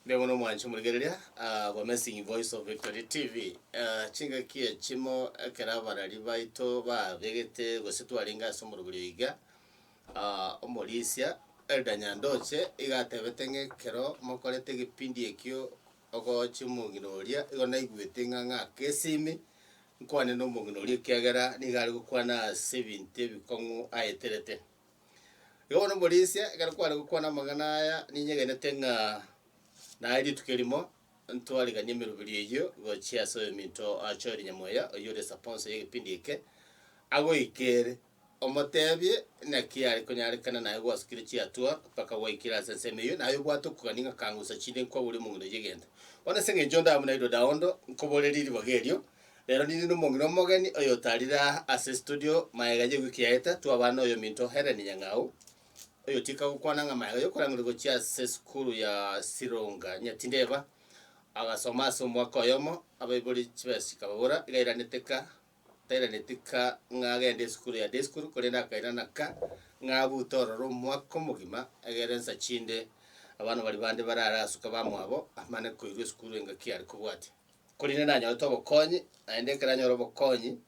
Mbuya mono mwancha omorigereria ah, for messing voice of victory tv Ah, chingaki echimo ekero abarari baito babegete gose twarenge ase omorobori oyo iga ah, omorisia elder nyandoche iga atebete ng'a ekero mokorete egepindi ekio Ogooche omong'ina oria, igo naigwete ng'a ng'ake ase ime, nkwane nomong'ina oria ekiagera nigo are gokwana ase ebinto ebikong'u aeterete. Igo bono omorisia, ekero kware gokwana amang'ana aya, ninyegenete ng'a naye rituko erimo ntwariganie emeroberio eyio gochia ase oyominto achoire nyamweya, oyio ore esponsa y'egepindi eke, agoika ere. Omoteebie naki are konyarekana naye gwasukire chiatua mpaka gwaikire ase ensemo eyio, naye obwate okogania ng'a kangusa chinde nkwa bori omong'ina oyio egento. Bono ase engencho onde amo nairwe daondo nkoborerie ribaga erio, rero ninde nomong'ina omogeni oyotarire aa ase estudio, maega ye wiki yaeta twabana noyominto Hellen Nyang'au, oyotiga gokwana ng'a maega yokorangeria gochia ase esukuru ya Sironga Nyatindeba, agasoma ase omwaka oyomo, abaibori chibesa chikababora, igairanete ka. Tairanetie ka ng'a agende esukuru ya day school, korende akairana ka ng'a abute ororo omwaka omogima, egere ensa chinde abana baria bande bare are asuka bamwabo amane koirwa esukuru engaki are kobwatia. Korende nanyorete obokonyi, naende ekero anyora obokonyi,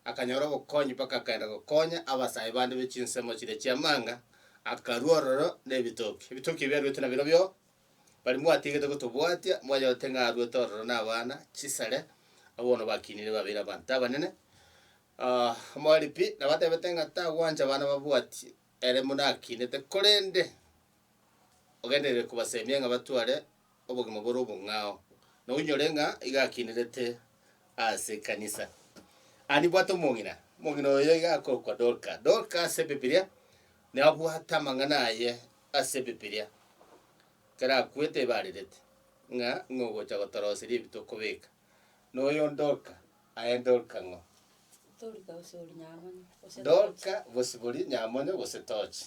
akanyora obokonyi mpaka akaenda gokonya abasae bande be chinsemo chiria chi'amanga, akarua ororo na ebitoki. Ebitoki ebio aruete nabirobio. Baria mwatiegete gotobwatia mwanyorete ng'a arwete ororo nabana chisare, abwo bono bakinire babeire abanto abanene. Ah, omoripi nabo atebete ng'a tagwancha abana babwatie ere buna akinete, korende ogenderere kobasemia ng'a batware obogima bore obong'ao, na oinyore ng'a iga akinerete ase ekanisa. Ah nibwate omong'ina, omong'ina oyo iga akorokwa Dorka. Dorka ase ebibilia nabwate amang'ana aye Ase Ebibilia, ekero akwete igo arerete ng'a ng'o ogocha gotoroseria ebi tokobeka. Noyo Dorka, aye Dorka ng'o? Dorka bosibori Nyamonyo gose Dorka bosibori Nyamonyo gose Tochi.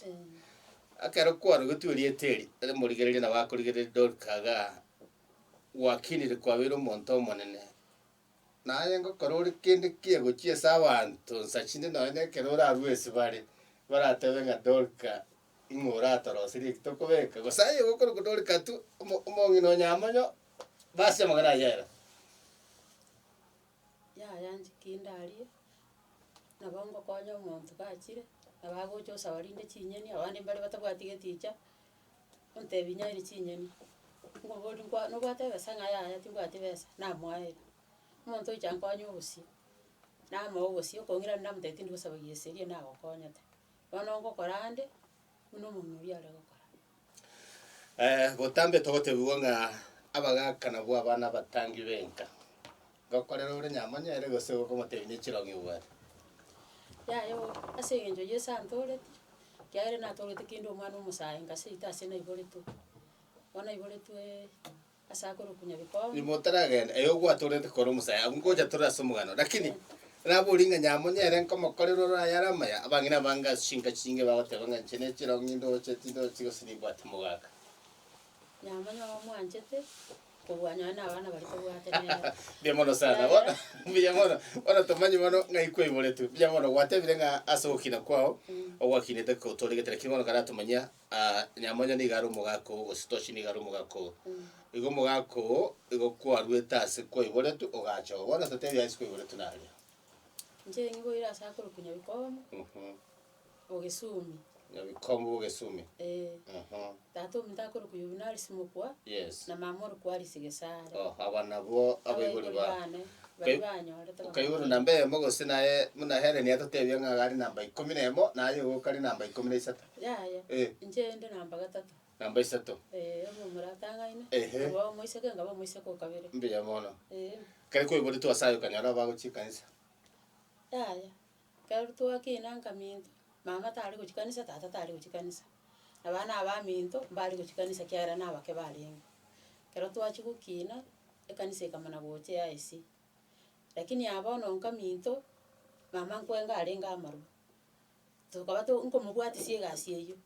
Ekero kwarogetwe erieta eri, omorigereria nabo akorigereria Dorka iga gwakinire kwabeire omonto omonene. Naye ngokora ore kende ki egochia ase abanto nsa chinde nonya ekero orarue esibare, baratebe ng'a Dorka Ing'o oratorosirie eki tokobeka? Gose aye gokorokwa nore Katu, omo- omong'ina o Nyamonyo, basi amagana ayio ere. Yaya inche ki ndarie, nabo ngokonya omonto gachire, nabo agocha osaba rinde chinyeni, abande mbare batabwati geticha, ontebi nyairi chinyeni, ngobori nkwa nobwate ebesa ng'a yaya timbwati besa, namoeire. Omonto oiche ankonye obosie, namoa obosie, okong'ira namotebi tindi gosaba gie seria nagokonyete. Bono ngokora ande, buna omong'ina oria are gokora. botambe togotebigwa ng'a abagaka nabwo abana abatangi b'enka. Gokorera ore nyamonyere gose gokomotebia ne chirogi obwate. Yaya oo, ase engencho y'esaa antoreti, kiagera natoreti kinde omwana omosae inga seito ase naiboretwe. Bono naiboretwee. ase akorukunya bikong'u. Nigo taragenda, eyo gwatorete kore omosae abwo ngocha tore ase omogano. Lakini naborie ng'a nyamonye ere nkomokorera ore ayare amaya, abang'ina abange ase chinka chinge bagoteba ng'a inche nechirong'o nindoche tindochi gose nimbwate mogaka. Nyamonye ogo mwanchete kobua nonye na abana baria tobwate nere. Mbuya mono sana Yaya. bono mbuya mono bono tomanye bono ng'ai kwaiboretwe mbuya mono gwatebire ng'a ase ogokina kwao ogwakinete kotoregete lakini bono karatomanyia Aa, nyamonye nigo are omogaka oo, gose toshi nigo are omogaka oo. Igo omogaka oo, igo kwarwete ase kwaiboretwe, ogacha oo. Bono totebi ase kwaiboretwe naria. Inche niboire ase akorokwa Nyabikomo, Mhm. Ogesumi. Nyabikomo bw'Ogesumi. Eeh. Aha. Tata ominto akorokwa Yuvinarisi mokwa, Yes. na mama orokwa Alice Gesare. Oh, aba nabwo abaibori ba. bane, baria Kai- banyorete bakamotebi. Kaiboro namba eyemo gose naye, buna Helen atotebia ng'a are namba ikomi na emo, naye igo okare namba ikomi na isato. Yaya, Eh. inche inde namba gatato. Namba isato. Ee, obe omoratang'ani, Ehe. obe omoiseke, nkabe omoiseke o kabere. Mbuya mono. Ee. Kare kweburetwe ase aye okanyora abagochia ekanisa. Yaya, ekero twakina nkaminto, mama tari gochia kanisa, tata tari gochia kanisa. Abana abaminto, mbari gochia kanisa ekiagera nabake barenge. Ekero twachia gokina, ekanisa ekamana gocha ya esi. Lakini ya bono nkaminto, mama nkwenga arenge amarwa. Tokaba to nkomobwatisia egasi eyio,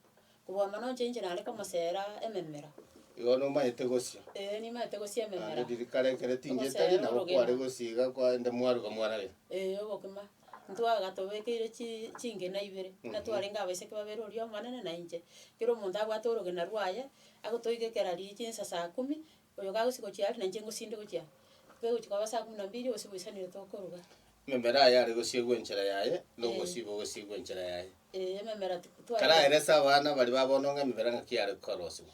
kobua mono inche inche nare komoseera ememera. Igo nomaete gosia. Ee, nimaete gosia Naende ememera. ririkari ekero tingia Ogoseera etari, nabo kware orogima. gosia iga kwaende mwaruga mwarage. Ee, ogokima. Ntwaga tobekeire chi chingena ibere, buna Mhm. twarenge abaiseke babere oria omonene na inche. Kera omonto abwate orogena rwaye, agotoigekera riichi insa saa kumi, Oyo kagosii gochia aa, nainche ngosinde gochia aa. Kegochia kwaba saa kumi na mbili, gose goisanire tokoruga. Ememera aye are gosiegwa enchera yaye, na Ee. omosiibo ogosiigwa enchera yaye. Ee, ememera ti- twa- Karaerese abana bariba bono ng'a ememera ng'aki are korosiwa.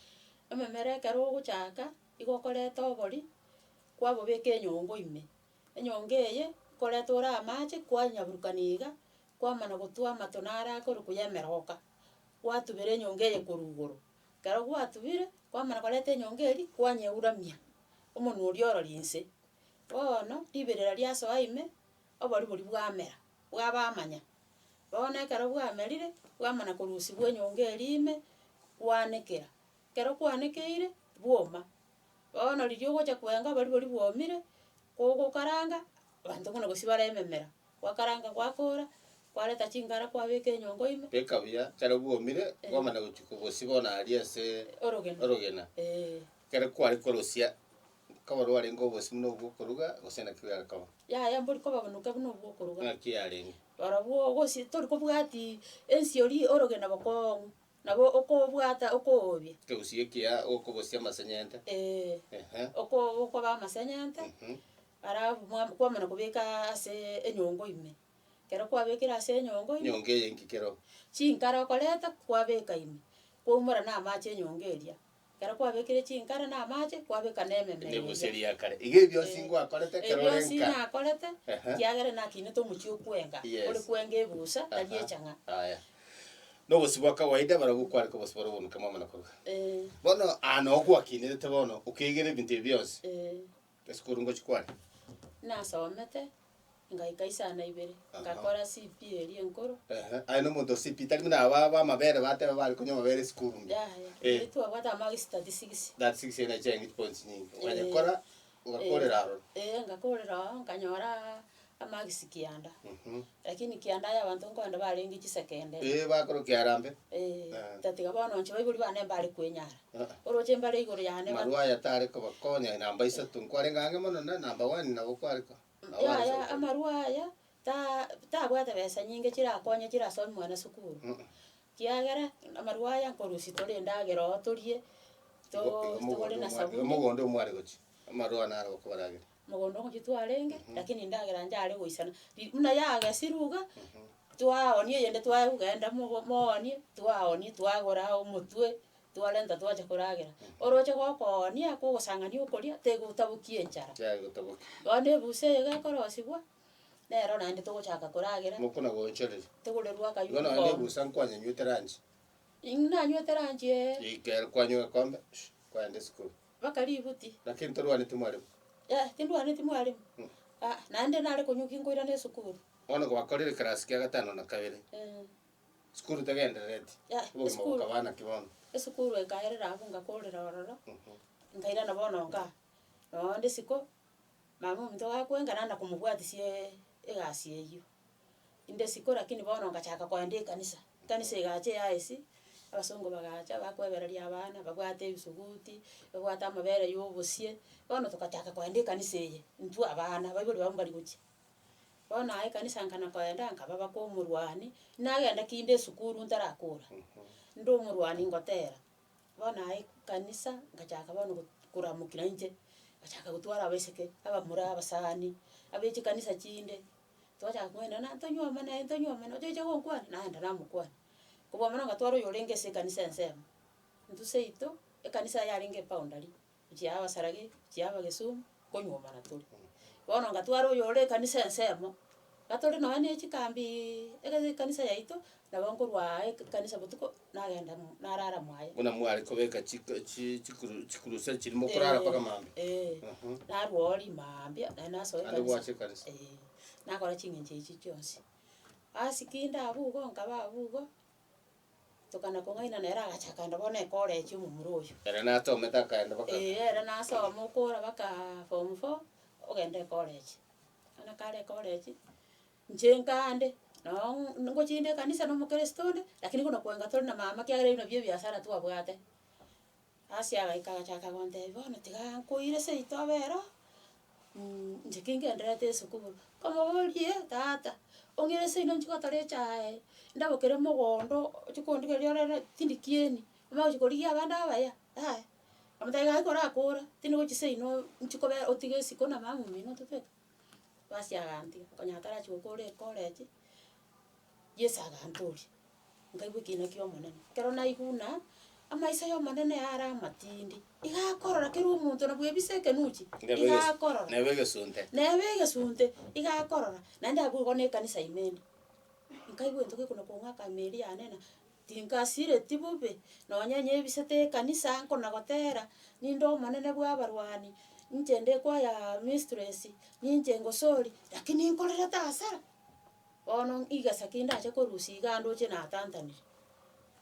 Ememera ekero ogochaaka, igo okoreta obori, kwabobeka enyongo ime. Enyongo eye, koreta ore amache, kwanyaburukania iga, kwamana gotwa amato naro akorokwa ya emeroka, gwatubera enyongo eye korwa igoro. Ekero gwatubire, kwamana korenta enyongo eria, kwanyeuramia omonwe oria ororo inse. Bono riberera riasoa ime, oboru boria bwamera, bwaba amanya. Bono ekero bwamerire, bwamana korusigwa enyongo eria ime, kwanekera. Ekero kwanekeire, bwoma. Bono riria ogocha kwenga oboru boria bwomire, kogokaranga, abanto buna gose bare ememera. Gwakaranga gwakoora, kwareta chingara kwabeka enyongo ime. Beka buya ekero bwomire, bwamana gochia kobosibia bono aria ase Orogena. orogena. Ee. Ekero kware korosia, koba rwarenge obosio buna obwokoruga, gose naki biare koba? Yaya mbori koba bonuke buna obwokoruga. Naki yarenge? Barobwo ogosi tori kobwati ensi ori orogena bokong'u, nabo okobwata okoobia. Ekegusii ekiya okobosia amasenyente. Ee. Ehe. Oko- okoba amasenyente. Mhm. Alafu mwa kwamana kobeka ase enyongo ime, ekero kwabekire ase enyongo ime, Enyongo eye inki kero? chinkare okoreta kwabeka ime, kwaumora na amache enyongo eria, ekero kwabekire chinkare na amache, kwabeka na ememe eria. Emegusu eria ya kare. Iga ebionsi Eh, ngwakorete ekero ore ebionsi nka. nakorete, Ehe. ekiagera nakinete omochie okwenga, Yes. ore kwenga ebusa, tari Aha. echang'a. Aya. Na obosio bwa kawaida barabwo kware kobosio boria obomuke mwamana koruga. Eh, Bono aa noo gwakinerete bono, okegera ebinto ebi bionsi. eh. Ase korwa ngochia kwane. Nasomete, ngaika isana ibere, Aha. ngakora CP eria enkoro. Ehe, aye nomonto o CP, tari buna aba b'amabere bateba bare konywa amabere esukuru mbuya. Yaya, Eh. erio twabwate amagi statistics. That six ena echiaye eng'iti points nyingi. Okanya Eh. kora, ogakorera aro. Eh, ngakorera oo, nkanyoraa Amagisi kianda. Mhm. Lakini kianda ya abanto nkoende barenge chisekende. Ee, bakoro kiarambe. Ee, Ah. tatiga bono nche baibori bane mbare kwenyara. Ah. Oroche mbare igoro yane ba- Marwa aya tare kobakonya namba isato. Nkwarenge ang'e mono na namba one nabo kware ko. nabo Yaya, arese gokora. amarwa aya ta- tabwate besa nyinge chirakonye chirasomi mwana sukuru. Mm. Kiagera amarwa aya nkorusia tore endagera oo torie, to- Igo- igo togore mogondo na omwa- igo sabuni. mogondo omware gochia. Amarwa naro okobaragera. Mogondo omochie twarenge, lakini endagera inche are goisana. Ri- buna yagesirwe iga, twaoonia eyende twaye kogenda mogo moonie, twaoonia twagora omotwe, twarenta twacha koragera. Oroche gokoonia, kogosang'ani okoria, tegotaboki enchara. Yaya gotaboki. Bono ebusa eye gekorosigwa, nero naende togochaka koragera, Mokona goonchoreri. togorerwa akaywo Igo naende omogondo. ebusa nkwanyanywete lunch. Ing' nanywete lunch ee. Rikere kwanywa egekombe, kwaenda esukuru. Mpaka ributi. Lakini torwaneti mwalimu. Eh, tindwaneti mwalimu. Ah, naende nare konyuki nkoirana esukuru. Bono gwakorire ekerasi kia gatano na kabere, Eh, sukuru tegenderereti, Yeah, obogima esukuru. bokaba naki bono? esukuru enkaerera abwo ngakorera ororo, Mhm. nkairana bono nkaa. Noonde isiko, mama ominto gakwenga naenda komobwatisia egasi eyio. inde isiko lakini bono ngachaka kogenda ekanisa. Ekanisa egacha eya esi, abasongo bagacha bakwebereria abana, babwate ebisuguti, babwate amabere ya obosie, bono togachaka kogenda ekanisa eye intwe abana, abaibori babo mbari gochia. Bono aye ekanisa nka na kogenda nkaba baka omorwani, nagenda kinde esukuru ntarakora, inde omorwani ngotera, bono aye ekanisa ngachaka bono go- koramokia inche, ngachaka gotwara abaiseke, abamura, abasani, abe chikanisa chinde, Twachaka kong'aina, na ntonywe amo naye, ntonywe amo naye, ocheche gonkwana? Naenda namokwana. Kobua mono ngatwara oyo orenge ase ekanisa ensemo, intwe seito, ekanisa eye yarenge eboundary, gochia aba saragi, gochia aba gesumu, konywomana tore. Bono ngatwara oyo ore ekanisa ensemo, gatore nonya ne chikambiiii, egasi ekanisa yaito, nabo nkorwaa ekanisa botuko. nagenda mo- narara mwaye. Buna mware kobeka chiko- chi- chikuru- chikurusia chiria mokorara mpaka mambia. Eeh, Aha. narwo oo rimambia, naye nasoa Naende ekanisa. gwacha ekanisa. Eeh, nakora ching'encho echi chionsi. Ase kinde abwo igo nkaba abwo igo, tokana kong'aina nere agacha akaenda bono ekorechi omomura oyio. Ere natomete akaenda baka. Eeh, ere nasoma okora bakaaa form four, ogenda ekorechi. Bono kare ekorechi, Inche nkande, noo ng- ngochie inde ekanisa na omokristo onde, lakini buna kwenga tore na mama ekiagera ebio nabio ebiasara twabwate. Ase agaika agachaka gontebia bono tiga nkoire seito abe ero, inche ki ngendererete esukuru. Nkomoborie, tata, ong'ire seino ninche gotora echae, ndabokere mogondo, ochie kondigeria orere tindi kieni, omanye gochia korigia abande abaya? Yaya. Omote iga ekero akoora, tindi gochia seino ninche kobe otige esiko na mama omino ototete. Basi agantiga, okonyora atarachie gokoora ecollege, Yeso agantoria, nkaigwa ekiina kia Omonene. Ekero naigwa buna, amaiso ya Omonene yare amatindi, iga akorora kera omonto na bwebisa ekenuchi, Neba eges- iga akorora. neba egesunte. Neba egesunte, iga akorora, naende abwo igo na ekanisa ime ime. Nkaigwa egento gekona kong'aka ime eria yanena. Tinkasireti bobe, nonya inye ebisete ekanisa nkonagotera, ninde omonene bw'abarwani, inche nde koya mistress, ninche ngosori, lakini nkorerete hasara. Bono igesa ki ndache korusia iga ndoche natantanire.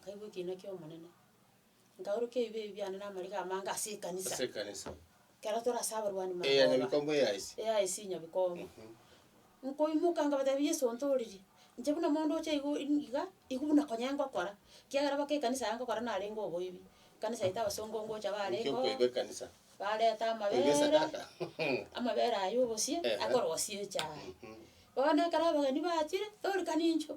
Nkaigwa ekiina ki'Omonene. Nkaorokia ebibe ebi biane na amariga amange ase ekanisa, ase ekanisa, ekero tore ase abarwani magoro. eya nyabikomba eya ise. eya ise nyabikomba. Nkoimoka nkabatebia Yeso ontooreri, inche buna omonto oche igo in- iga, igo buna konye ngokora, kiagera baka ekanisa yaye ngokora narenge oboibi. Ekanisa eye abasongo ngocha Inki barengeo, okoiba ekanisa? bareta Koiba amabeere, esadaka. amabeere aya obosie, Ehe. akorosie echae. Bono ekero abageni bachire, torikani inchuo.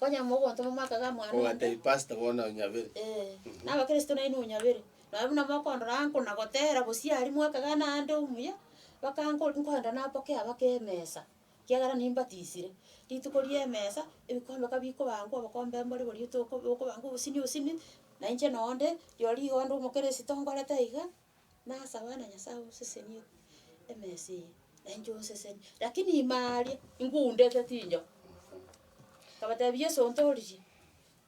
Onye mogontoma amaka ga mwana onde. Ogate pastor bono onyabere. Ee, na abakristo nainwe onyabere. Nonye buna mokondora anko na gotera bosie aria mwakaga naende omuya, baka anko nkoenda naboke abake emesa, kiagera nimbatisire. Rituko ri'emesa, ebikombe ka bikoba ango, obokombe mbore borio toko bokoba ango obosini obosini, na inche nonde, rirorio rigo onde omokeresito ngorete iga, Na ase abana Nyasae osesenie emesa eye, na inche oseseni. Lakini ime aria ingundete tinjo. Nkabatebia Yeso ontoririe,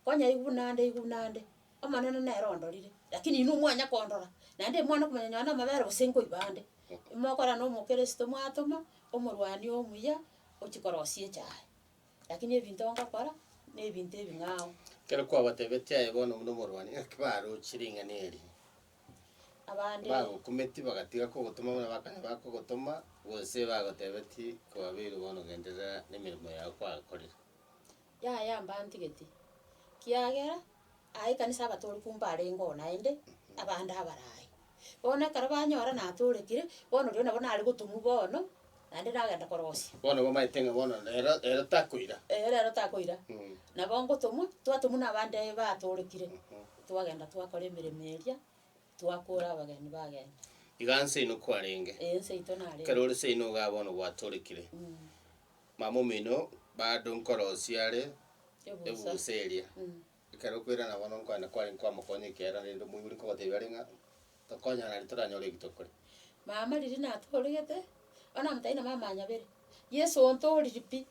konya aigwe nande aigwe nande, Omonene nere ondorire, lakini inwe mwanya kondora, naende imwana okomanya nonye na amabere gose nkoiba ande. Imokora na omokristo mwatoma omorwani omuya ochia korosia echaye. Lakini ebinto ngokora, na ebinto ebing'ao. Ekero kwabatebetie aye bono buna omorwani, ng'aki barochi ring'ana eri? abande. Bagokumeti bagatiga kogotoma buna bakane bakogotoma, gose bagotebeti kobabeire bono genderera nemeremo yao kwakorire. Yaya mbantigeti, kiagera aye ekanisa abatoriki mbo mbarenge oo naende abande abarayi. Bono ekero banyora natoorekire, bono rirorio nabo nare gotomwa bono. naende nagenda korosia. Bono bamaete ng'a bono rero rero takoira. Ee rero takoira, nabo ngotomwa, twatomwa na abande batoorekire, twagenda twakora emeremo eria, twakora abageni bagenda. Iga nse ino kwarenge. Ee ense yaito narenge. Ekero ore nse ino igaa bono gwatorekire, mama omino bado nkorosia are Ebusaa. ebusaa eria. Ekero okwerana bono nkwane kware nkoamokonya ekeera rende omoibori nkogotebia are ng'a tokonyana naende toranyore eki tokore. Mama riria natooregete, bono namotaete na mama nyabere, Yeso ontooriri pi,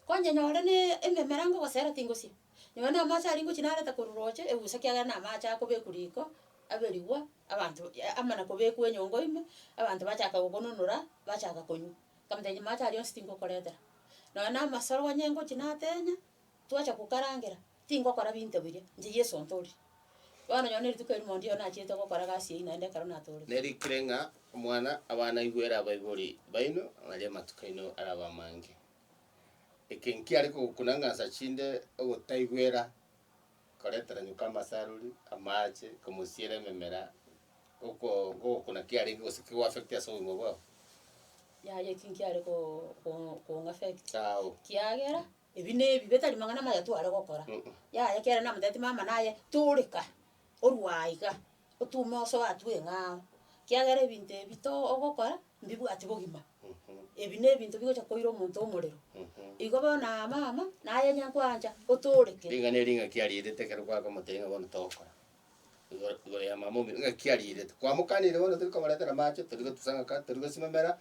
konye nyore na ememera ngogosera tingosia, nonye na amache aria ngochia nareta korwa roche ebusa ekiagera na amache akobekwa riko, aberigwa abanto amo na kobekwa enyongo ime, abanto bachaka gokononora, bachaka konywa. Nkamotebi mache aria onsi tingokoretera. Nonye na amasoro onye ngochia natenya, Twacha gokarangera, tingokora binto biria, inche Yeso ntoorire. Bono nyora nerituko erimo onde oyo nachiete gokora egasi eyio naende ekero natoorire. Nerikire ng'a omwana abanaigwere abaibori baino baria amatuko aino arabe amange. Eke nkiare kogokuna ng'a nsa chinde ogotaigwera koreteranyuka amasaruri, amaache, komosiera ememera, oko ngogokuna kiarenge gose kegwa affect ase obogima bwabo. Yaya eki nkiare ko- ko- kong'affect, Ao. kiagera Ebi nebi betari mang'ana amaya tware gokora. Yaya kiagera namotebitie mama naye, Toreka, orwa aiga, otume osoe aa tweng'ao, kiagera ebinto ebi to ogokora mbibwati bogima. Ebi nebinto bigocha koira omonto omorero. Igo bono aa mama, naye nyankoancha, otoreke. Ring'ana eri ng'a kiarietete ekero kwakomotebia ng'a bono togokora. igoro igoro y'amama omino ng'a ki ariirete. Kwamokanire bono tori komoretera amache, tori gotusang'aka, tori gosimamera,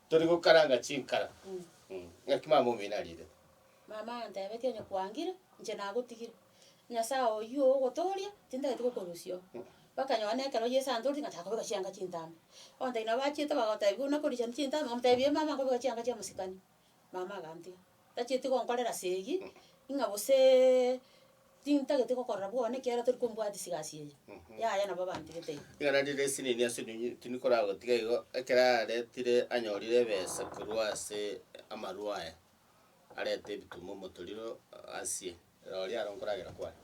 tori gokaranga chinkara, mh, ng'aki mama omino ariirete. Mama antebetie onye kwangire, inche nagotigire, Nyasae oyio ogotooria, tintagete gokorusia oo. Mpaka nonye ekero Yeso antorire ngachaka kobeka chianga chintambe. Bono ntainwe abachiete bagotebi buna korichani chintambe, omotebie mama nkobeka chianga chi'omosikani. Mama agantia, Tacheti gonkorera ase eyio, ing'a gose tintageti gokorora bwona ekiagera tori kombwatia sigasi eye. Yaya nabo abantigete iga. Ng'a naende ere esinini ase ominyo tindi koragotiga igo, ekero aretire anyorire ebesa korwa ase amarwa aya, arete ebituma omotoriro asie. Roria aro nkoragera kware.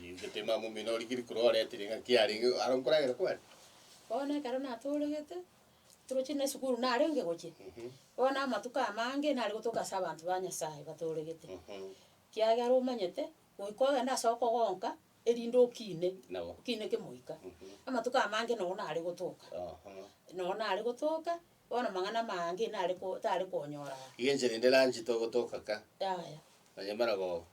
Ningete mama omino origirie korwa oretire ng'a ki arenge aro nkoragera kware. Bono ekero natooregete. Toroche na esukuru narenge gochia, bono amatuko amange nare gotoka ase abanto ba Nyasaye batooregete, ekiagera omanyete goika ogende ase okogonka erinde okine, okine kemoika. Amatuko amange noro nare gotoka, noro nare gotoka, bono amang'ana amange nare ko tare konyora aa. Iga enchera ende lunch togotoka ka, Yaya. nonye maragoba.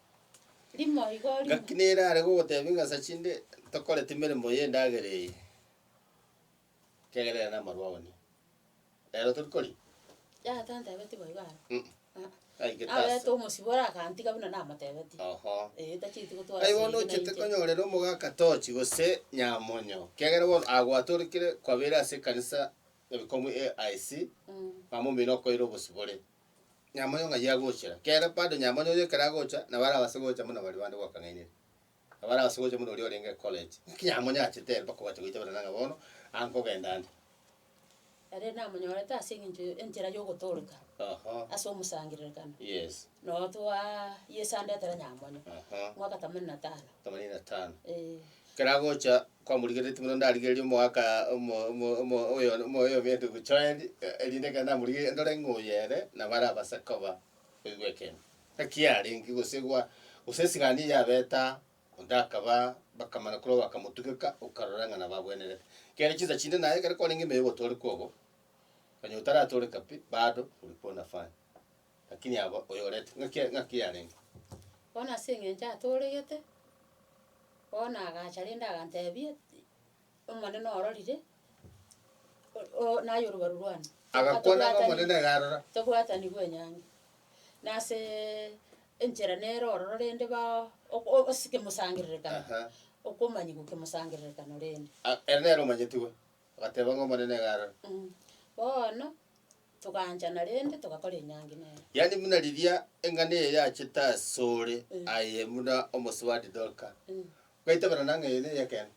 Rimo igo rimo. Ngaki nere are gogotebia ng'a sa chinde tokorete emeremo y'endagera eye. Kegerera namarwa one. Rero tori kori? Yaya tantebetie boigo aro. Mm. Ah. Aige tasa. Aberete omosibore agantiga buna namotebetie. Oho. Eh, tachieti gotwara Naibono seyi buna ochete inche. konyorera omogaka tochi gose nyamonyo. Kiagera bono agwatorikire kwabeire ase ekanisa ebikomu AIC, Mm. mama omino okoeire obosibore. Nyamonyo ng'ai agochera? Kiagera bado nyamonyo onye ekero agocha, nabo arabase gocha buna baria bande gwakang'ainire. Abare ase gocha buna oria orenge college, naki yamonyachete ere mpaka gwacha goicha barana ng'a bono aa nkogenda ande. Ere namonyorete ase eng'encho enchera yogotoreka Oho. ase omosangererekano. Yes. Noo twa Yeso andetera nyamonye. Aha. Mwaka themanini na tano. Themanini na tano. Eeh. Ekero agocha kwamorigereretie buna ndarigereria omwaka omo omo omo oyo omo oyo obe ndugu Joel, erinde ekero namorigereria ndore ng'a oyo ere nabo arabase koba oigwa ekemo. Naki yarenge gosegwa, gose esigani yabeta, onde akaba, bakamana korwa bakamotugeka, okarora ng'a nabagwenerete. Ekiagera chinsa chinde naye ekero kwarenge emeyo ogotooreka obo, onye otaratoreka pi, bado ulikuwa unafanya. Lakini aba oyorete, ng'aki ya- ng'aki yarenge. Bono ase eng'encho atooregete, bono agacha rende aganteebia. Omonene ororire, o- o- naye orubaru rwane. Agakwana ng'a Tobwatani- Omonene iga arora. Tobwatani bw'enyangi. Nasee enchera nere ororo rende bao ok- o- ase kemosangererekano, Aha. okomanyigwa kemosangererekano rende. A- ere nere omanyeti owe, agateba ng'a Omonene iga arora. Mh, bono togaanchana rende togakora enyangi nere. Yaani buna riria eng'ana eye yachete asore, Mh. aye buna omosubati Dorka, Mh. Gaitaberana ng'a eye neye ekeene.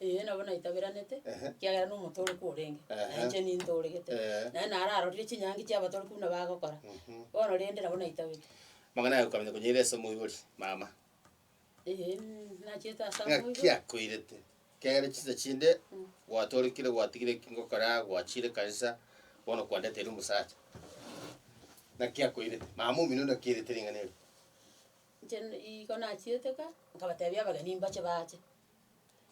Ee, nabo naitaberanete, Ehe. ekiagera nomotoorokwa orenge, Ehe. na inche nintooregete. Ee. Naende naro arorire chinyangi chia abatorokwa buna bagokora. Mhm. Bono rende nabo naitabete. Amang'ana aye okamanya konyaira ase omoibori, mama. Ee, nachiete ase Ng'aki amoibori. akoirete? Ekiagera chinsa chinde gwatorekire gwatigire eki ngokora, gwachiire ekanisa, bono kwandeteire omosacha. Naki akoirete? Mama omino naki airete ring'ana erio? Inche nigo nachieteka, nkabatebia abageni mbache baache.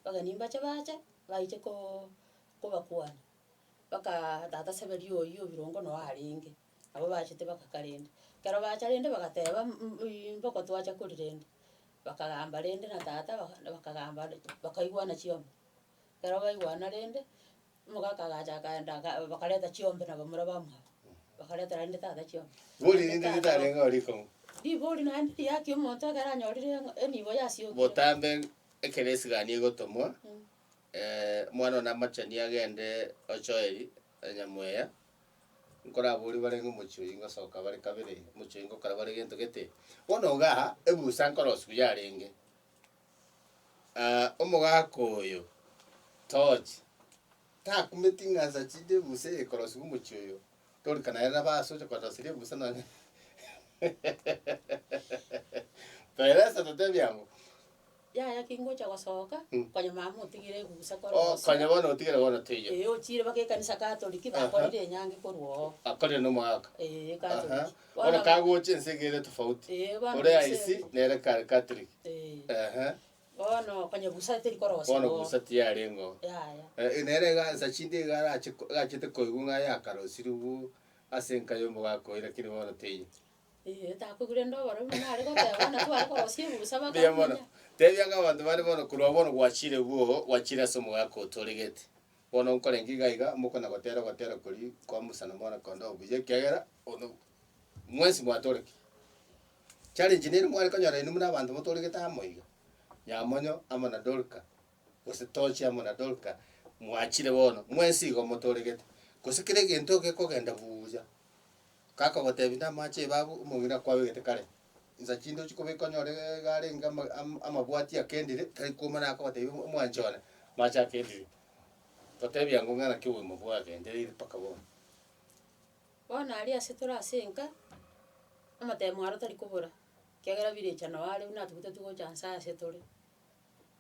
Abageni mbache baache, baiche koo kobakwana, bakaa tata seberia oyio birongo noe arenge, nabo bachete bagaka rende. Ekero bacha rende bagateba mbuiiyi mboko twacha kori rende, bakagamba rende na tata baka bakagamba bakaigwana chiongo. Ekero baigwana rende. Omogaka agacha akaenda aka bakareta chiombe na abamura bamuha, bakaretera rende tata chiombe. Bori Naende rinde tata ritarenge oo rikong'u. Ribori naende riakia omonto ekero anyorire ng'a enibo yasiokire. Botambe ekero esigani egotomwa, omwana one namachani agende o Joeli, o Nyamweya, nkoraborie barenge omochie oyio ngosoka bare kabere, omochie oyio ngokora bare gento gete. Bono igaa ebusa nkorosia buya arenge. Omogaka oyo toche, takumeti ng'ansa chinde ebusa eye ekorosiwa omochie oyo, torika naye nabo aase oche korosiria ebusa nonya Peresa totebie ang'o? Yaya ki ngocha gosoka, Mm. konya mama otigire ebusa kore Oh, gose. konya bono otigere bono teiyo. Ee, ochire baka ekanisa Catholic, bakorire enyangi korwa oo. Akorire nomogaka. Ee, Catholic. Aha. Bono kagocha ense iga ere tofauti. Eh, bono Ore ense- aisi nere Ka- Catholic. Eh, Ehe. bono konya busa teri korosia Bono bo. busa tiyarengo. Yaya. Eh, nere iga nsa chinde iga arache ko- agachete koigwa ng'a yakarosirigwu ase enka ya omogakoyi lakini bono teiyo. Eh, takoigwa rende oboro buna nare goteba bono nabwo bare korosia ebusa Mbuya mono. bakamonya. Tebia ng'a abanto bare bono korwa bono gwachire bwoo, gwachire ase omogaka otoregete. Bono nkorenge iga iga mokona gotera ogotera koria kwa Musa na Mwana-kondoo buya, ekiagera bono mwensi mwatorekire. Challenge nere mware konyora inwe buna abanto motoregete amo iga, Nyamonyo amo na Dorka, gose Tochi amo na Dorka, mwachire bono, mwensi igo motoregete. Gose kera egento gekogenda buya, gakagotebi namache ebabu, omong'ina akwabegete kare. Insa chinde ochia kobeka onyore iga arenge ama- am- amabwati akendire, tari kuuma naye akobatebia o- omwanche one, amache akendire. Totebia ng'o ng'a naki obogima bwagendereire mpaka bono. Bono aria ase tore ase enka, amatemo aro tari kobora, ekiagera birecha nao are buna atugete tu gocha nse ase tore.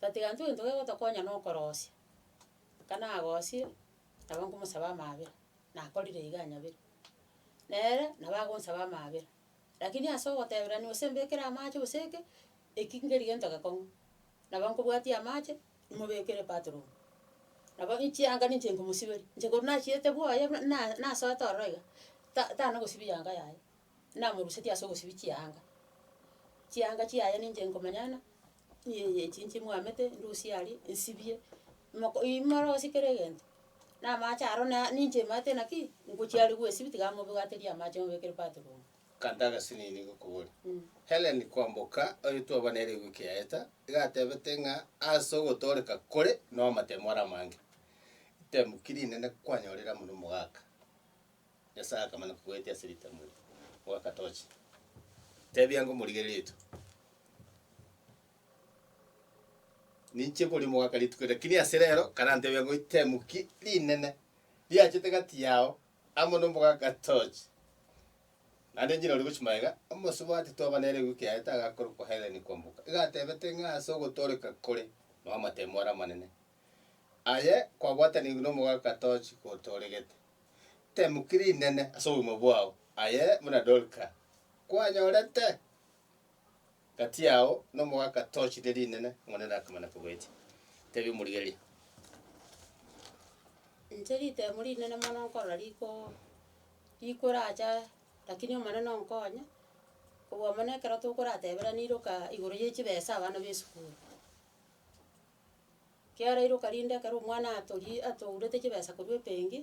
Tatiga intwe egento kegotokonya na okorosia, aka nagosie, nabo nkomosaba amaabera, nakorire iga anyabere. Nere nabo agonsaba amaabera. Lakini ase ogoteberania gose mbekere amache gose eke, eki nkeri gento gekong'u. Nabo nkobwatia amache, nimobekere epatron. Nabo chianga ninche nkomosiberi, inche korwa nachiete bwoye buna na nasoete ororo iga, ta tanagosibia yanga yaye, namorusetie ase ogosibia chianga. Chianga chiaye ninche nkomonyana, Eyi eye echinche mwamete ndusie aria nsibie, moko ii morosio kera egento, na amache aro na ninche emanyete naki ngochi aria gwesibia tiga mobwaterie amache mobekere bathroom. Kanta agasinini nigo koboria. Helen kwamboka, oyo twaba nere ewiki yaeta, iga atebete ng'a ase ogotooreka kore na omatemo are amange, ritemu ki rinene kwanyorire amo nomogaka? Nyasae akamanya kogoetia ase ritemo eri, ogaka tochi. Tebia ng'a omorigereria oito ninche kori mogaka rituko eri, lakini ase rero karantebia ng'a itemuki rinene riachete gati yao amo nomogaka tochi. Naende enchera oria gochia magega, omosubati twaba nere ewiki yaete agakorokwa Hellen Kwamboka, iga atebete ng'a ase ogotooreka kore, nao amatemo are amanene. Aye kwabwatanigwe nomogaka tochi gotoregete. Temuki rinene ase obogima bwao, aye buna Dorka kwanyorete. Gati yao nomogaka tochi ne rinene, Omonene nakamana kogoetia. Tebia omorigereria. Inche ritemo rinene mono nkorora riko rikoracha lakini omonene onkonye, kobua mono ekero tokorateberanire oka igoro ye chibesa abana ba esukuru. Kiara iroka rinde ekero omwana atori atourete chibesa korwa ebenki,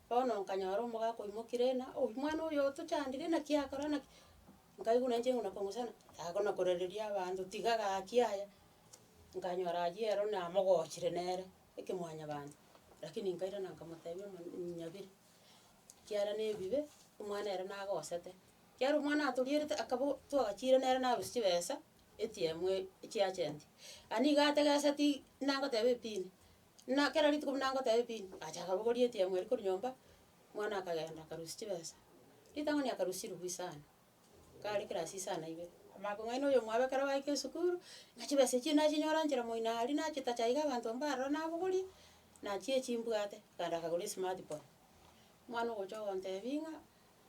bono nkanyora omogaka oimokire ng'a oyio omwana oyo otochandire naki akora naki, nkaigwa nainche ng'ina kong'usana, yaago na korereria abanto tiga gaki aya, nkanyora ayio ero namogochire nere ekemwanyabanto, rakini nkairana nkamotebia ng'a mh nyabire, ekiara na ebibe, omwana ere nagosete. Kiara omwana atorierete akaba twagachiire nere narusia chibesa, echiemo echiachenti. Aye nigo ategeseti buna ngoteba epini, buna kera rituko buna ngoteba epini, acha akabogoria echiemo eria korwa nyomba, omwana akagenda akarusia chibesa. Ritang'ani akarusirigwa isano, kare ekerasi isano aibere, amanya kong'aina oyo omwabo ekero baika esukuru, ng'a chibesa echio nachinyora nchera moino aria nachitacha iga abanto mbare aroro nabogorie, nachia echimbwate, akaenda akagora esmartphone. Omwana ogocha ogontebia ng'a.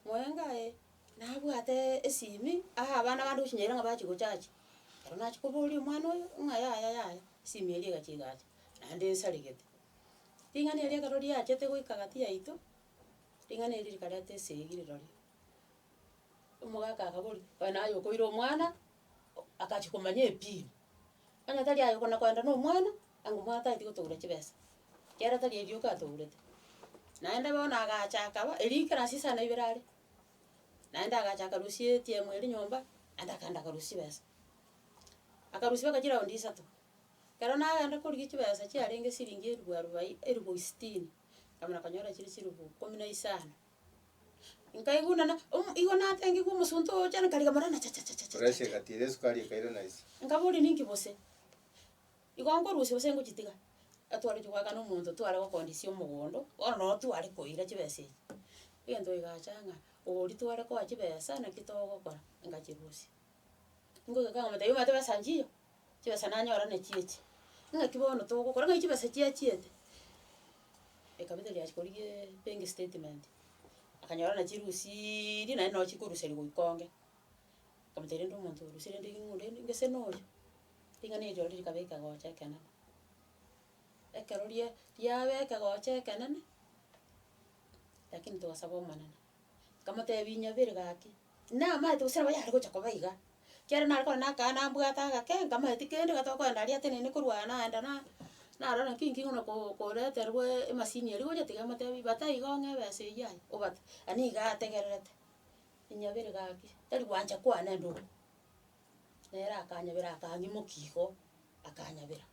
Moyenge aye nabwate esimi aa abana bande ochinyayire ng'a bachi gochachi, ero nachi koboria omwana oyo ng'a yaya yaya, esimi eria egachi egacha, naende esaregete. Ring'ana erio ekero riachete goika gati yaito, ring'ana erio rikareta esegi rirorio, omogaka akaboria, oye naye okoira omwana, o- agachi komanya epini. Onye tari aye okona koenda na omwana, ango omwana tageti gotogora chibesa, ekiagera tari erioka atogorete. Naende bono agacha akaba, erio ekero ase isano ibere are, naende agacha akarusia etiemu eria nyomba, naende akaenda akarusia chibesa. Akarusia mpaka chiraundi isato, ekero nagenda korigia chibesa chiarenge siringi eribu arubai eribu sitini, nkamana konyora chire chiribu ikomi na isano. Nkaigunana, omo igo natengigwe omosunte ogocha are nkarigia morana chachachachacha. Pressure egatira esukari ekaira naisi. Nkaboria ninki gose? Igo nkorusia gose ngochitiga? Atwareti goakana omonto tware gokondisia omogondo, bono noo tware koira chibesa echi. Egento kigacha ng'a oria tware koa chibesa naki togokora, ngachirusia. Ngoika ng'a omonto taiyo omanyete besa nchiyo, Chibesa nanyora nachio echi. Ng'aki bono togokora ng'ai chibesa chiachiete? Ekabisa riachikorigie bank statement, akanyora na chirusiiri naende noo chikoruseria goika onge. Nkamotebia rende omonto orusie rende ring'o onde rinde ngese na oyo. Ring'ana erio riria rikaba ekegocha ekenene. Ekero ria riaba ekegocha ekenene, lakini togasaba Omonene. Nkamotebia, Inyabere gaki, namaete gose nabo yare gocha koba iga. Ekiagera nare korwa nakana nambwate agake, nkamanya tikende iga tokoenda aria ateneine korwa naenda na narora naki inki ng'ona ko- koreterwe emasini eria gocha tiga emotebie bata iga ong'e ebesa eyio aye, obate. Ani iga ategererete, inyabere gaki, tari gwancha kwane nduru. Nere akanyabera akang'imokia igo, akanyabera.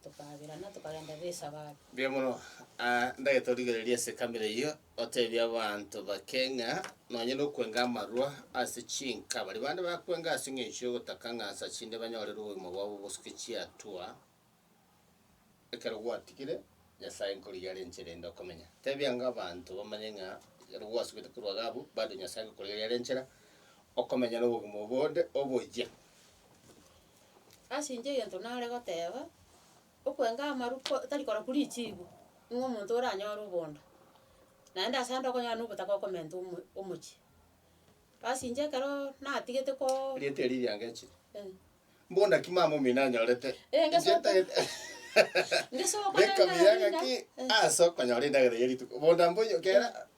tokaberana, tokagenda b'esabato. Mbuya mono. Ah, ndagete origererie esekamera eyio, otebie abanto bake ng'a nonye nokwenga amarwa ase chinka, baria bande bakwenga ase eng'encho y'ogotaka ng'a nsa chinde banyorere obogima bwabo bosuke chiatua ekero gwatigire Nyasae nkorigia are enchera ende okomenya. Tebia ng'a abanto bamanye ng'a ekero gwasubete korwa iga abwo, bado Nyasae agokorigereria are enchera okomenya nobogima obonde oboyia. Ase inche egento nare goteba, okwenga amaru ko tari korokwa richibu, nigo omonto oranyore obondo, naende ase ande okonyora na obotaka okomenta omo omochie. Ase inche ekeroo natigete koo. Erieta erio riango echi. Eh. Mbo naki mama omino anyorete. Eh, ngeso Inche okwo. ntagete- Ngeso okwo Beka nende mbuya ng'aki, eh. ase okonyora endagera ya rituko. Bondo mboyo kera,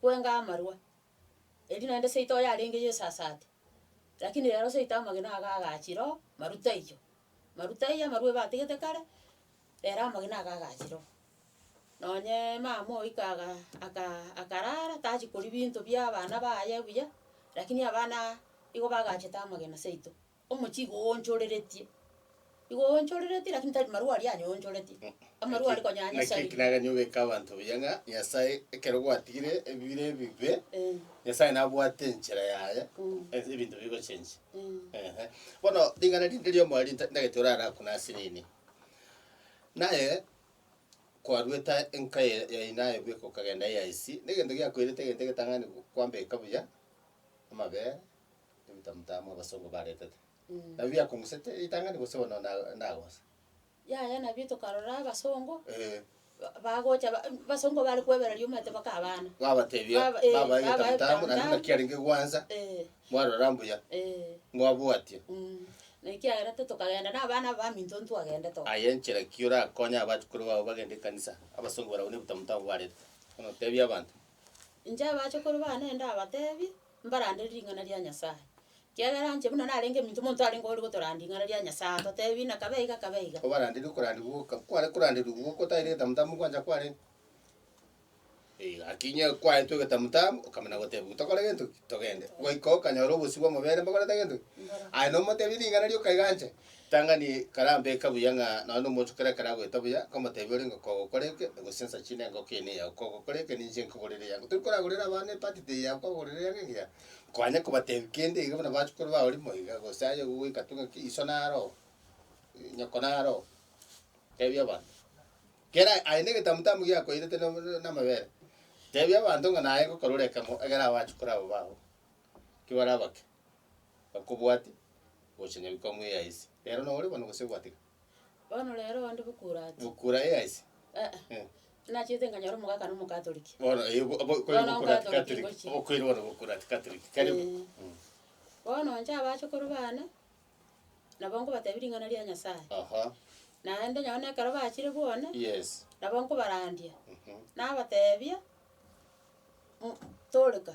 Kwenga amarwa. Erio naende seito oye arenge yesasate. Rakini rero seito amagena aga agachi roo, maruta ayio. Maruta ayio amarwa ebatigete kare, rero amagena aga agachi roo. Nonye mama oyi kaga aka akarara tachi koria binto bia abana baye buya, rakini abana igo bagachete amagena seito. Omochie igo oonchoreretie. Igo oonchoreretie, lakini tari marua aria anyoonchoretie. Amarua are konya ya Naki Nyasae. ekinagani obeke abanto buya ng'a Nyasae ekero gwatigire ebire ebibe, Eh, Nyasae nabwate enchera yaye Mm. ense ebinto bigochenche. mm. Ehe. Bono ring'ana rinde riomo aria nta- ntagete orare ako nase nini. Naye kwarwete aye enka ya- ya inaye bweka okagenda AIC, na egento giakoirete egento egetang'ani kwambeka buya amabere, Ebibe motama abasongo baretete. Nabio biakong'usete ritang'ani gose bono na- nagosa? Yaya nabio tokarora abasongo Eh, ba- bagocha ba- basongo bare kwebereria omanyete baka abana. babatebia Baba- eh, babae babae egetamutamu naende buna egetamutamu. kiarenge gwansa Eh, mwarora mbuya eh, mwabwatia. mm. Na ekiagera te tokagenda na abana abaminto ntwagendete oo. Aye enchera ki orakonye abachukuru bao bagende ekanisa abasongo barabwo na ebitamutamu baretete? Bono tebia abanto. Inche abachukuru bane ndabatebi, mbarandere ring'ana ria Nyasae, ekiagera inche buna narenge ominto monto arenge ore gotoranda ring'ana ria Nyasae, agotebi buna kabe iga kabe iga. Obaranderi okoranderwa goka kware koranderwa igwo gotaeire egetamutambe ogwancha kwarenge. Ee, gaki inye kwaetwe egetamutambe okamana goteba igo tokore gento ki? Togende. Goika okanyora obosio bw'amabere mbakorete gento ki? Aye nomotebi ring'ana rioka iga anche. Ritang'ani karambe eka buya ng'a nonya nomonto ekero akaragoeta buya, nkomotebia ore ngoko ogokora eke, gose nsa chine ngoko eye neyao, kogokora eke ninche nkogorere eyango. Tori koragorera abana epati tei yao kogorera eyango engiya, kwanya kobatebia kende iga buna bachukuru bao rimo iga, gose aye ogoika tu ng'aki iso naro oo, nyoko naro oo. Tebia abanto, kera aye na egetambe tambo giakoirete na- na- namabere, tebia abanto ng'a naye ngokorora ekemo, egere abachukuru aba bao. ekio bare abake bakobwate, gocha nyabwo ekamwa eya ise. Rero nao ore bono gose gwateka? Bono rero onde bokura ati. Bokura eya ise? Aa, Eh. nachiete nkanyora omogaka na omokatoliki. Bono eh, obo- obo- okoira Bono bokura ati Catholic Catholic. ngochia. Okoira bono bokura ati Catholic. Karibu. Eh. Mm. Bono inche abachukuru bane, nabo nkobatebia ring'ana ria Nyasaye. Aha. Naende nonye na ekero bachire bwane, Yes. nabo nkobarandia, Mhm. nabatebia, "Mu- toreka.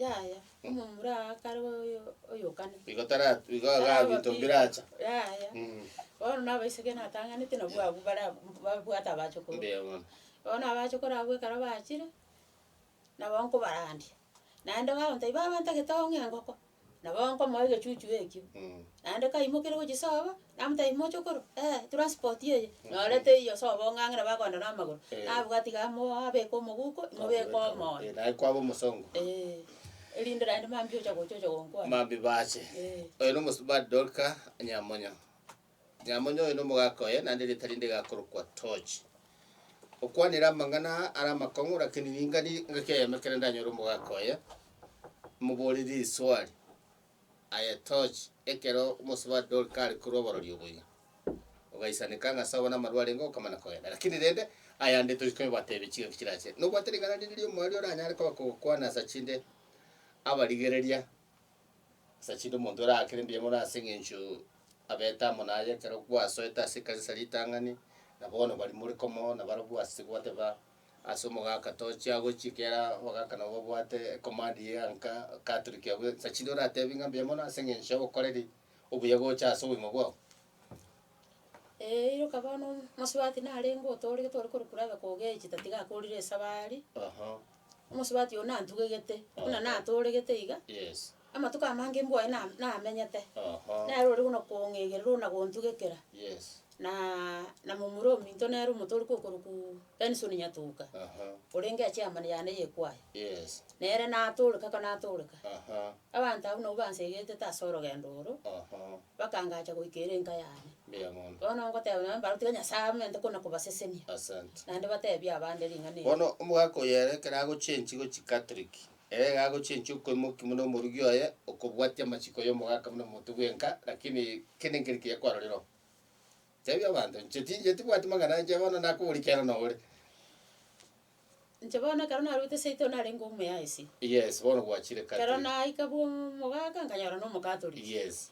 Yaya, omomura oo akare oyo oyokane. Igo tara- igo iga binto mbiracha. Yaya, Mm. bono na abaiseke natang'anete nabwo abwo bare abwo babwate abachokoro. Mbuya mono. Bono abachokoro abwo ekero bachire, nabo nkobarandia, naende bagontebia baba ntagete ong'e engoko. Nabo nkomoa egechuchu ekio. Naende kaimokeire gochia sobo, namotebia, Imoche okorwa? Ee, transport eye nyorete eyio sobo ong'ang'e nabo agoenda na amagoro. Eh. Nabwo atiga amo abeke omoguko, imobeke omoyo. Eh, naye kwaba omosongo. Eh, erinde naende mambia ocha gocha ocha gonkwana. Mambia bache. Eh. Oyo nomosubati Dorka Nyamonyo. Ng'amonye oye nomogaka oye, naende erieta rinde rigakorokwa Toji. Okwanire amang'ana aa are amakong'u, lakini ninga ni engaki eyemo ekero ndanyore omogaka oye, moborie riswali. Aye Toji, ekero omosubati Dorika are korwa oborori oboiga, ogaisaneka ng'a as'abwo namarwa arenge okamana kogenda, lakini rende ayande tori kobateebia chingaki chirachire. Nobwate ring'ana rinde ri'omoerio oranyare koba kogokwana asa chinde abarigereria? Ase chinde omonto orakere mbuya mono ase eng'encho abete amo naye ekero gwasoete ase ekanisa ritang'ani, na bono bari more komo na barabwo ase gwateba ase omogaka tochia gochi ekiagera abagaka nabo babwate ecommand ya nka catholic abwo, sa chinde oratebi ng'a mbuya mono ase eng'encho ya obokoreri obuya gocha ase obogima bwao. Eeh iroka bono omosubati narenge otooria tore korokura abe kogechi tatiga akorire esabari, omosubati oyo nantugegete buna natooregete iga, yes, amatuko amange mbwe aye na- namenyete, nere ore buna kong'egerera ona gontugekera, yes, na- na momura ominto nere omotoria kokorokuua Benson Nyatuka, aha, orenge echairman yane ya ekwaya, yes, nere natoreka ka natoreka abanto abwo nabo bansegete ase orogendo oro, aha. Bakangacha goika ere enka yane. Mbuya mono. Bono ngoteba nonye mbaro tiga Nyasae aamente kona kobasesenia. Asante. Naende batebie abande ring'ana eri. Bono omogaka oyo ere ekero agochenchi go chicatholic, ere iga agochenchi okoimoki buna omorugi oye okobwatia amachiko y'omogaka buna omonto bwenka lakini kende nkeri kiya kwarorire oo. Tebia abanto inche tinche tibwati mang'ana inche bono nakoboria ekiagera noo ore. Inche bono ekero naruete eseito narenge omuya ise. Yes, bono gwachire Ekero country. naika bwa omogaka nkanyora na omokatoliki. Yes,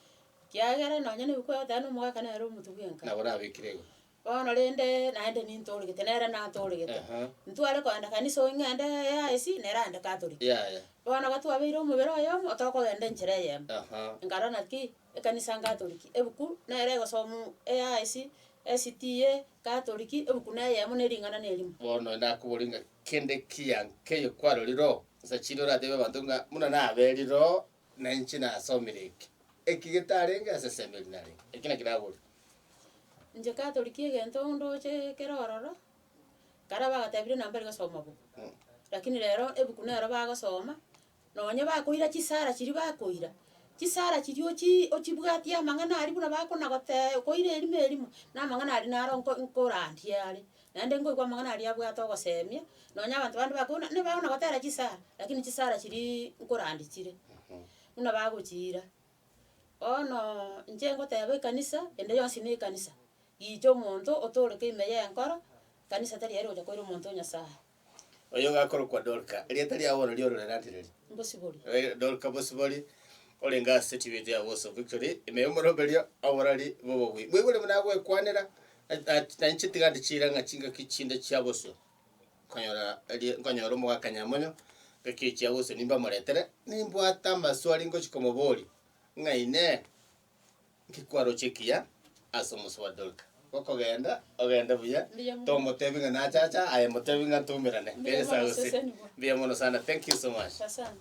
Ekiagera nonye na ebikwao tari na omogaka nere omotu bwenka. nabo nabekire igo. Bono rende naende nintoregete nere natoregete. Aha. Ntware kogenda kanisa oyo ng'ende ya IC nere aende katoliki. Yaya. Bono iga twabeire omobere oyomo tokogenda enchera eyemo. Aha. Nkarora ng'a ki, Ekanisa Nkatoliki, ebuku nere egosomu AIC, SDA, Nkatoliki, ebuku neyemo ne ring'ana nerimo. Bono nakoborie ng'a kende ekiya nkeiyo kwarorire oo? Nsa chinde orateebie abanto ng'a buna naberire oo na inche nasomire eke, eki getarenge ase esemo eri narenge, eki naki naborire. Inche Katoliki egento ndoche ekero ororo, kare bagatebirie nabo mbari gosoma book, lakini rero ebuku nero bagosoma. Nonya bakoira chisara chiria bakoira, chisara chiria ochi ochibwatie amang'ana aria buna bakonagotee koira erimo erimo, na amang'ana aria naro nko- nkorandie are. Naende nkoigwa amang'ana aria abwate ogosemia, nonya abanto bande bakoigwa buna nibago nagotera chisara, lakini chisara chiria nkorandi chire, buna bagochiira. Bono inche ngoteba ekanisa, ende yonsi ne ekanisa, gicha omonto otoreke ime y'enkoro, ekanisa tari ere ogocha koira omonto o Nyasaye. Oyo gakorokwa Dorka, erieta ria bono ri'ororere atiriri. Mbosibori. Eh, Dorka Bosibori, orenge ase Tibeti ya Boso Victory, ime y'omoromberio oborari bw'obobui. Bwegure buna agwekwanera, at- at- nainche tiga ndi chirang'a chingaki chinde chia bosio. Nkonyora eri- nkonyora omogaka Nyamonyo, ngaki chia bosio nimbamoretere, nimbwate amaswali ngochia komoboria, ng'a inee, Nki kwaroche ekiya ase omoso bwa Dorka? Gokogenda, ogende buya, Mbuya mono. tomotebi ng'a nache acha, aye motebi ng'a tumerane. Mbuya Ngeche mono, sagose. sesenigwa. Mbuya mono sana, thank you so much. Asante.